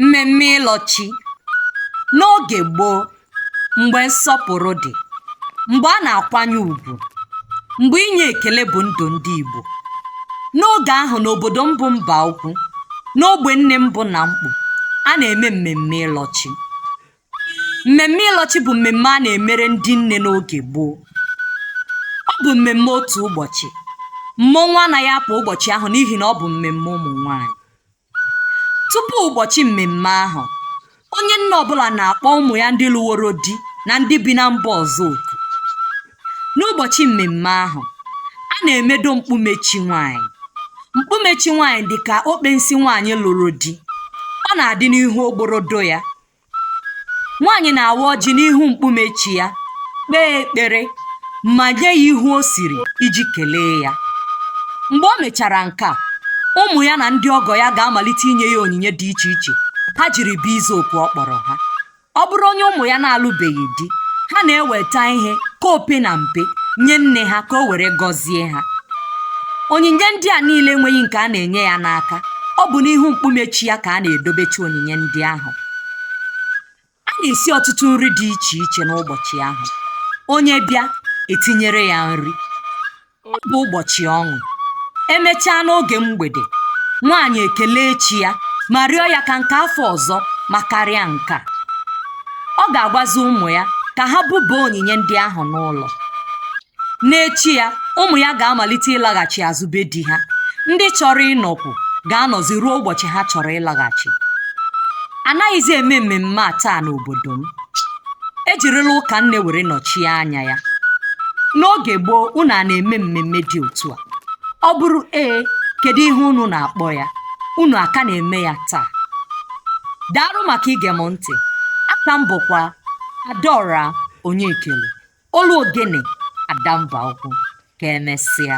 mmemme ịlọ chi n'oge gboo mgbe nsọpụrụ dị mgbe a na-akwanye ugwu mgbe inye ekele bụ ndụ ndị igbo n'oge ahụ n'obodo m bụ mbaukwu n'ogbe nne m bụ namkpu a na-eme mmemme ịlọ chi mmemme ịlọ chi bụ mmemme a na-emere ndị nne n'oge gboo ọ bụ mmemme otu ụbọchị mmọnwụ anaghị apụ ụbọchị ahụ n'ihi na ọ bụ mmemme ụmụ nwanyị tupu ụbọchị mmemme ahụ onye nne ọbụla na-akpọ ụmụ ya ndị lụworo di na ndị bi na mba ọzọ oku n'ụbọchị mmemme ahụ a na-emedo mkpume chi nwanyị mkpume chi nwanyị dị ka okpensi nwanyị lụrụ di ọ na-adị n'ihu ogborodo ya nwaanyị na-awa ọjị n'ihu mkpume chi ya kpee ekpere ma nye ya ihe o siri iji kelee ya mgbe o mechara nke a ụmụ ya na ndị ọgọ ya ga-amalite inye ya onyinye dị iche iche ha jiri bịa ịza oku ọ kpọrọ ha ọ bụrụ onye ụmụ ya na-alụbeghị di ha na-eweta ihe ka ope na mpe nye nne ha ka o were gọzie ha onyinye ndị a niile enweghị nke a na-enye ya n'aka ọ bụ n'ihu mkpume chi ya ka a na-edobecha onyinye ndị ahụ a na-esi ọtụtụ nri dị iche iche n'ụbọchị ahụ onye bịa etinyere ya nri ọ bụ ụbọchị ọṅụ emechaa n'oge mgbede nwaanyị ekelee chi ya ma rịọ ya ka nke afọ ọzọ makarịa nke a ọ ga-agwazi ụmụ ya ka ha buba onyinye ndị ahụ n'ụlọ n'echi ya ụmụ ya ga-amalite ịlaghachi azụ be di ha ndị chọrọ ịnọkwu ga-anọzi ruo ụbọchị ha chọrọ ịlaghachi anaghịzi eme mmemme a taa n'obodo m ejirila ụka nne were nọchie anya ya n'oge gboo unu a na-eme mmemme dị otu a ọ bụrụ ee kedu ihe unu na-akpọ ya unu a ka na-eme ya taa daalụ maka ige m ntị aka m bụkwa adaora onyekelu olu ogene ada mbaukwu ka emesịa